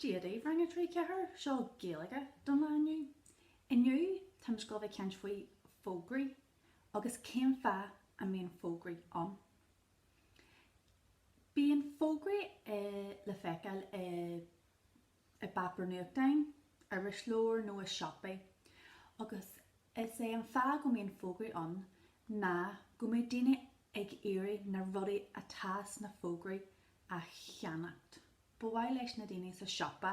Dia daoibh, Rang 3, 4! Seo Gaeilge don lá inniu. Inniu, táimid ag dul a bheith ag caint faoi fógraí agus cén fáth a mbíonn fógraí ann. Bíonn fógraí le feiceáil i bpáipéar nuachtáin, irisleabhair nó i siopaí agus is é an fáth go mbíonn fógraí ann ná go mbeidh daoine ag iarraidh na rudaí atá sna fógraí a cheannacht. Ba mhaith leis na daoine sa siopa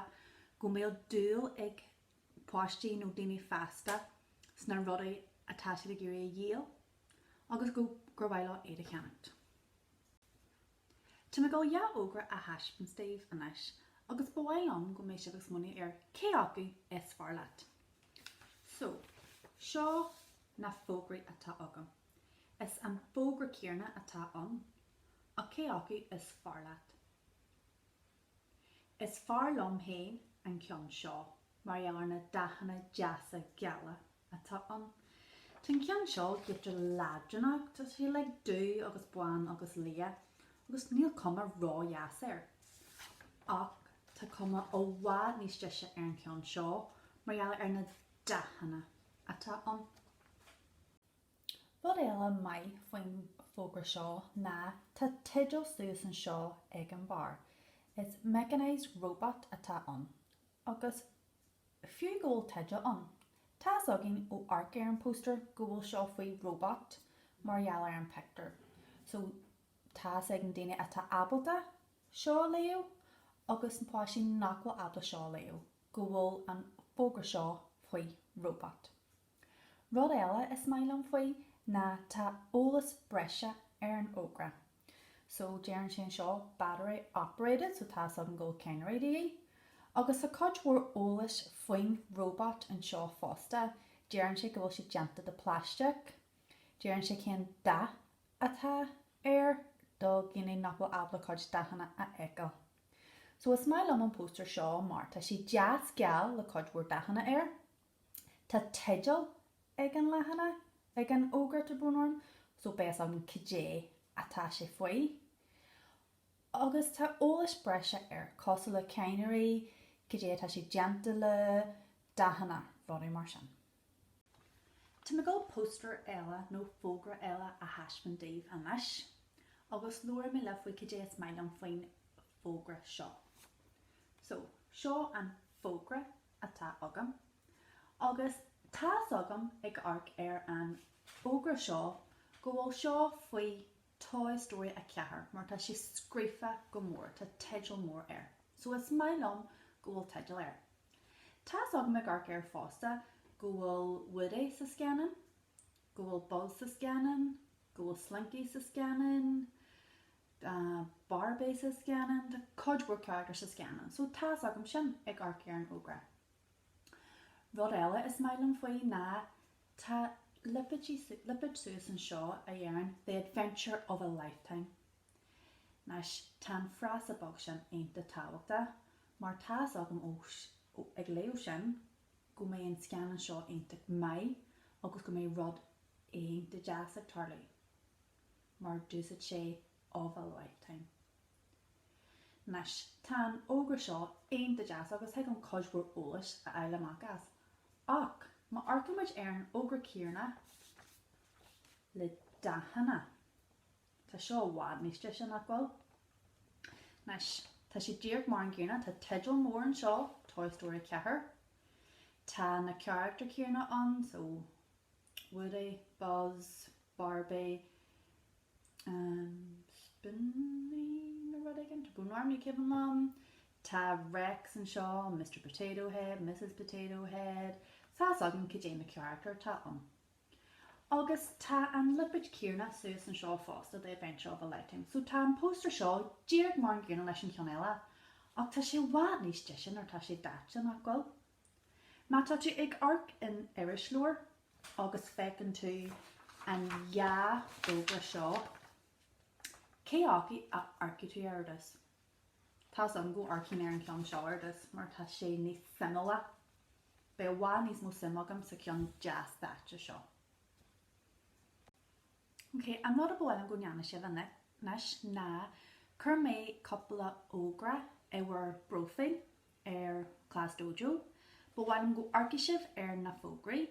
go mbeadh dúil ag páistí nó daoine fásta sna rudaí atá siad ag iarraidh a dhíol agus go gur mhaith leo iad a cheannacht. Tá mé ag dul dhá fhógra a thaispeáint daoibh anois agus ba mhaith liom go mbeidh sibh ag smaoineamh ar cé acu is fearr leat. So, seo na fógraí atá agam. Is an fógra céanna atá ann. Ach cé acu is fearr leat? Is fearr liom féin an ceann seo mar gheall ar na dathanna deasa geala atá ann. Tá an ceann seo giota leadránach, tá sé le dubh agus bán agus liath agus níl cuma ródheas air. Ach tá cuma i bhfad níos deise ar an cheann seo mar gheall ar na dathanna atá ann. Rud eile maith faoin fógra seo ná tá teideal suas anseo ag an bharr, is mechanised robot atá ann. Agus fiú go bhfuil teideal ann, tá's againn ó amharc ar an póstaer go bhfuil seo faoi robot mar gheall ar an pictiúr, so tá's ag an duine atá ábalta seo a léamh agus na páistí nach bhfuil ábalta seo a léamh go bhfuil an fógra seo faoi robot. Rud eile is maith liom faoi ná tá eolas breise ar an fhógra. So deireann sé anseo battery operated, so tá 's agam go bhfuil cadhnraí de dhíth. Agus tá cuid mhór eolais faoin robot anseo fosta, deireann sé go bhfuil sé déanta de plastic, deireann sé cén dath atá air do dhuine nach bhfuil ábalta cuid dathanna a fheiceáil. So is maith liom an póstaer seo mar tá sé deas geal le cuid mhór dathanna air. Tá teideal ag an leathanach ag an fhógra, tá brón orm, so beidh fhios agam caidé atá sé faoi. Agus tá eolas breise air cosúil le cadhnraí, caidé atá sé déanta le, dathanna, rudaí mar sin. Tá mé ag dul póstaer eile nó fógra eile a thaispeáint daoibh anois, agus labhróidh mé libh faoi caidé is maith liom faoin fógra seo. So, seo an fógra atá agam agus tá's agam ag amharc ar an fhógra seo go bhfuil seo faoi Toy Story 4 mar tá sé scríofa go mór, tá teideal mór air. So is maith liom go bhfuil teideal air. Tá's agam ag amharc air fosta go bhfuil Woody sa scannán, go bhfuil Buzz sa scannán, go bhfuil Slinky sa scannán, Tá Barbie sa scannán, tá cuid mhór carachtar sa scannán, so tá's agam sin, ag amharc ar an fhógra. Rud eile is maith liom faoi ná tá lipéad suas anseo a deireann The Adventure of a Lifetime. Anois, tá an frása beag sin iontach tábhachtach mar tá's agam ó ag léamh sin go mbeidh an scannán seo iontach maith agus go mbeidh rud iontach deas ag tarlú. mar dúirt sé of a lifetime. Anois, tá an fhógra seo iontach deas agus thig liom cuid mhór eolais a fháil amach as. Ach, má amharcaimid ar an fhógra céanna le dathanna, tá seo i bhfad níos deise, nach bhfuil? Anois, tá sé díreach mar an gcéanna, tá teideal mór anseo, Toy Story 4. Tá na carachtair céanna ann, so Woody, Buzz, Barbie, Slinky nó rud éigin, tá Bo ann ar ndóigh ceapaim, Tá Rex anseo, Mister Potato Head, Missus Potato Head, tá's agam cad é na carachtair atá ann. Agus tá an lipéad céanna suas anseo fosta, The Adventure of a Lifetime. So tá an póstaer seo díreach mar an gcéanna leis an cheann eile, ach tá sé i bhfad níos deise nuair atá sé daite, nach bhfuil? Má tá tú ag amharc in irisleabhar agus feiceann tú an dhá fhógra seo, cé acu a amharcfaidh tú air, ar dtús? Tá's agam go amharcfaidh mé ar an gceann seo ar dtús mar tá sé níos suimiúla. Beidh i bhfad níos mó suim agam sa cheann deas daite seo. Ok, an rud a ba mhaith liom go ndéanfaidh sibh anois ná, chuir mé cúpla fógra i bhur bpróifíl ar Class Dojo. Ba mhaith liom go amharcfaidh sibh ar na fógraí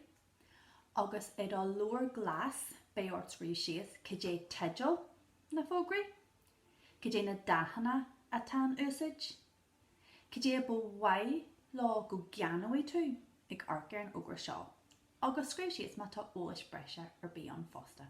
agus i do leabhar glas beidh ort scríobh síos cad é teideal na fógraí, cad é na dathanna atá in úsaid, cad é a ba mhaith leo go gceannóidh tú ag amharc ar an fhógra seo agus scríobh síos má tá eolas breise ar bith ann fosta.